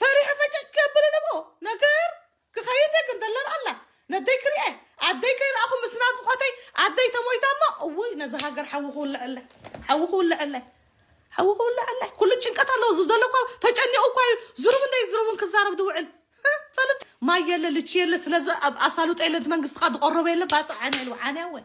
ፈሪሐ ፈጨጭ ክብል እለ እሞ ነገር ክኸይድ እየ ግን ደለብ ኣላ ነደይ ክሪኤ ኣደይ ከይረኣኹ ምስ ናፍቆተይ ኣደይ ተሞይታ እሞ እውይ ነዚ ሃገር ሓዊ ክውልዐለይ ሓዊ ክውልዐለይ ሓዊ ክውልዐለይ ኩሉ ጭንቀት ኣለዎ ዝደሎ እኮ ተጨኒቑ እኳ እዩ ዝሩብ እንደይ ዝሩብን ክዛረብ ዝውዕል እ፣ ፈልጥ ማይ የለ ልቺ የለ ስለዚ ኣብ ኣሳልጦ የለ እቲ መንግስትኻ ዝቆረበ የለ ባፅዕ ዓንያ ኢሉ ዓንያ ወይ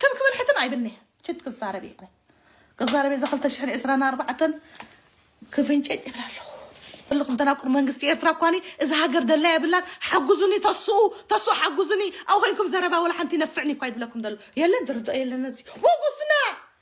ትም ክብል ሕትም ኣይብልንየ ችት ክዛረብ እየ ኣነ ክዛረብ እየ እዛ ክልተ ሽሕን ዕስራን ኣርባዕተን ክፍንጨጭ ይብል ኣለኹ እልኹም ተናቁር መንግስቲ ኤርትራ እኳኒ እዛ ሃገር ደላ የብላን ሓጉዙኒ ተስኡ ተስኡ ሓጉዙኒ ኣብ ኮይንኩም ዘረባ ወላ ሓንቲ ይነፍዕኒ እኳ ይብለኩም ዘሎ የለን ድርድኦ የለን ነዚ ወጉስትና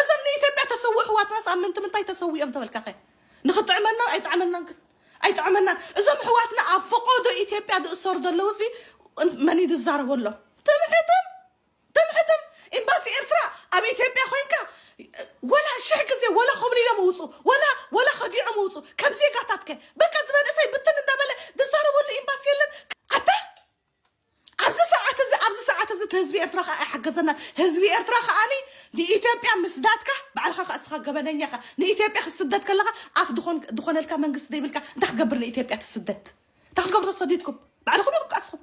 እዞም ንኢትዮጵያ ተሰውኡ ኣሕዋትናስ ኣብ ምንቲ ምንታይ ተሰውኡ እዮም ተበልካኸ ንኽጥዕመና ኣይጥዓመናን ግን ኣይጥዓመናን እዞም ኣሕዋትና ኣብ ፈቖዶ ኢትዮጵያ ዝእሰሩ ዘለዉ ሲ መን እዩ ዝዛረበሎም ትምሕትም ትምሕትም ኤምባሲ ኤርትራ ኣብ ኢትዮጵያ ኮይንካ ወላ ሽሕ ግዜ ወላ ኮብሊሎም እውፁ ወላ ወላ ከዲዖም እውፁ ከም ዜጋታትከ በቃ ዝበንእሰይ ብትን እንዳበለ ዝዛረበሉ ኤምባሲ የለን ኣታ ኣብዚ ሰዓት እዚ ኣብዚ ሰዓት እዚ ህዝቢ ኤርትራ ከዓ ኣይሓገዘናን ህዝቢ ኤርትራ ከዓኒ ንኢትዮጵያ ምስዳድካ ባዕልኻ ከዓ እስኻ ገበነኛ ኢኻ ንኢትዮጵያ ክትስደድ ከለኻ ኣፍ ድኾን ድኾነልካ መንግስቲ ዘይብልካ እንታይ ክትገብር ንኢትዮጵያ ትስደድ እንታይ ክትገብሩ ተሰዲድኩም ባዕልኹም ኢኹም ከዓ እስኹም